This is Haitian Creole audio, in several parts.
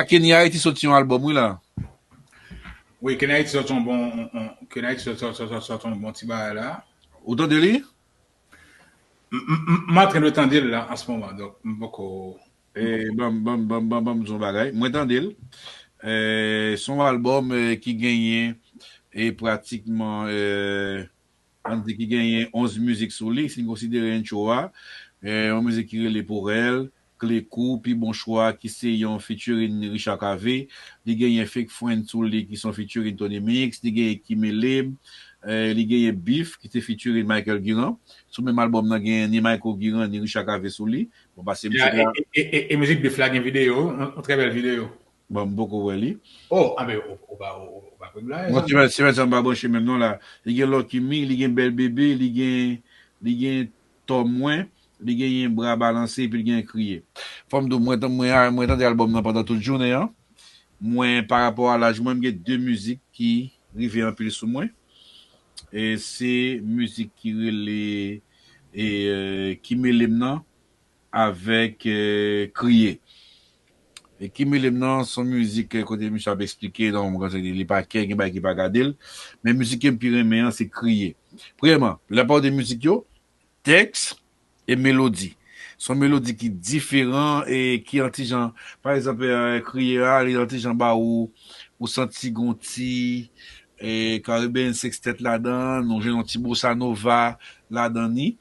A Kenny Haiti soti yon album wi la. Wi Kenny Haiti soti yon bon Kenny Haiti soti yon bon ti bagay la. Ou tande li? M antren de tande l la an se moman donk m poko. Banm di yon bagay mwen tande l son album ki genyen pratikman. Ann di ki genyen 11 mizik sou li, si n konsidere entcho a, yon mizik ki rele Pour elle, Kle kou, pi bon chwa ki se yon featuring Richard Cavé, li genyen Fake Friend sou li ki se yon featuring Tony Mix, li genyen Ki Mele m, li genyen Beef ki se featuring Michael Guirand. Sou menm albòm nan genyen ni Mayco Guirand ni Richard Cavé sou li. Bon pase m ti ka. E mizik Beef la gen videyo, yon trè bèl videyo. Bon m poko wè li. Oh a men ou pa konn blayi sa non. Semen sa m pa branche menm non la. Li gen lucky me, li gen bèl bebe, li gen li gen tò mwen, li genyen bra balanse epi li genyen kriye. Fòm di w mwen tande album nan pandan tout jounen an. Mwen pa rapò a laj mwen m gen 2 mizik ki rive anpil sou mwen. Se mizik ki rele ki mele m nan. avèk kriye. E ki melem nan son mizik kote misye ap esplike nan yon moman kote li pa kè gen bagay ki pa gadel men mizik kem pi renmen an se kriye premyèman la plupart de mizik yo tèks e melodi son melodi ki diferan e ki yon ti jan pa egzanp kriye a li yon ti jan ba ou ou santi gon ti caribbean sextet ladan ou jwenn yon ti bossa nova ladan ni.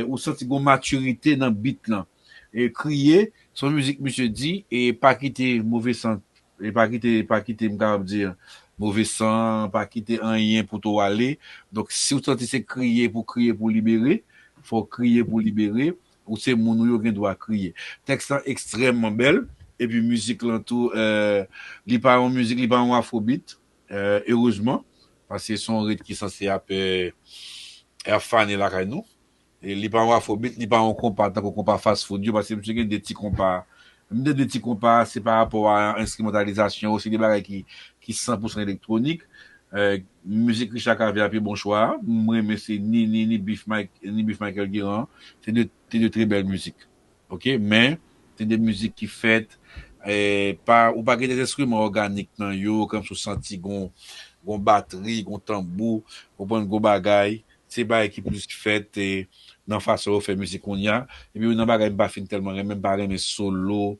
ou santi gon maturite nan beat lan kriye son mizik misye di pa kite move san pa kite pa kite m kapab di move san pa kite anyen pou to ale donk siw santi se kriye pou kriye pou libere fòw kriye pou libere ou se moun ou yo gen dwa kriye tèks lan ekstrèman bèl epi mizik lan tou li pa yon mizik li pa yon afro beat Erezman, paske son rit ki sanse ap fane lakay nou. Li pa yon afrobit, li pa yon konpa tankou konpa fast food yo, paske misye gen 2 ti konpa. M di 2 ti konpa, se pa rapò a enstrimantalizasyon yo, se 2 bagay ki san pousan elektronik. Mizik Richard Cavé a pi bon chwa a, m renmen se ni Beef Michael Guérin an, se 2 tré bèl mizik. Ok men se de mizik ki fèt pa ou pa gen de enstriman òganik nan yo kòmsi ou santi gon gon batri gon tanbou ou konprann gon bagay se bagay ki plis fèt nan fason yo fè mizik kounya epi youn nan bagay m pa fin tèlman renmen m pa renmen solo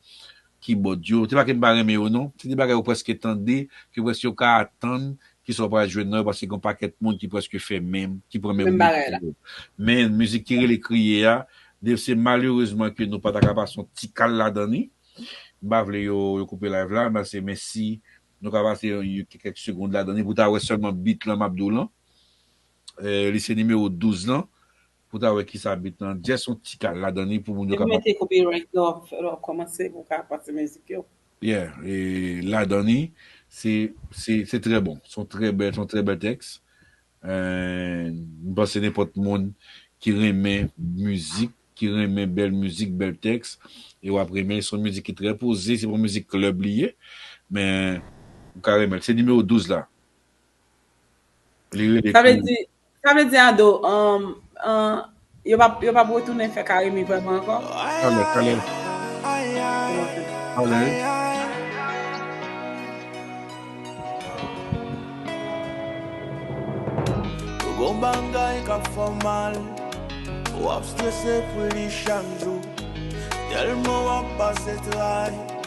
Kibòd yo, se pa ke m pa renmen yo non, se de bagay ou prèske tande, ke prèske ou ka atann ki sa ou pral jwenn nan yo paske gen yon pakèt moun ki prèske fè menm, ki pran menm wout ke yo. Men mizik ki rele Kriye a, Dave se malerezman ke nou pa ta ka pase yon ti kal ladan li, m pa vle yo koupe live la, m ta se men si nou ka pase yon ti kèk segond ladan li pou ta wè sèlman beat lan m ap di w lan, li se nimewo 12 lan. Pou ta wè kisa beat lan just yon ti kal ladan li pou moun yo ka Depi mete copyright lò lò kòmanse pou ka pase mizik yo. Yeah e ladan li se se se trè bon son trè bèl son trè bèl tèks and m panse nenpòt moun ki renmen mizik ki renmen bèl mizik bèl tèks e wap renmen l son mizik ki trè poze se pa yon mizik club li ye men ou ka renmen l se nimewo 12 la Li rele Krim. Sa vle di Ado, yo pap retounen fè Carimi vreman ankò? Talè, talè. Talè. Gon bagay kap fè w mal W ap strese pou li chak jou Tèlman w ap pase tray.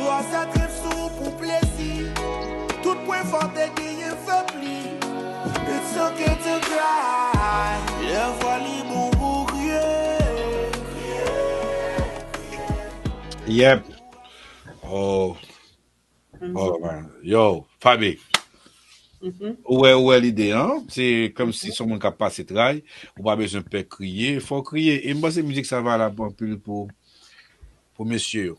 Roi sa trip sou ou pou plezi Tout pwen fò te genyen fèb li It's ok to cry Lè vwa li bon pou kriye Kriye, kriye, kriye Yep Oh Oh man Yo Faby Ou wè ou wè lide an Se kòmsi son moun kap pase tray Ou pa bezwen pè kriye Fò w kriye E m panse mizik sa valab anpil pou Pou mesye yo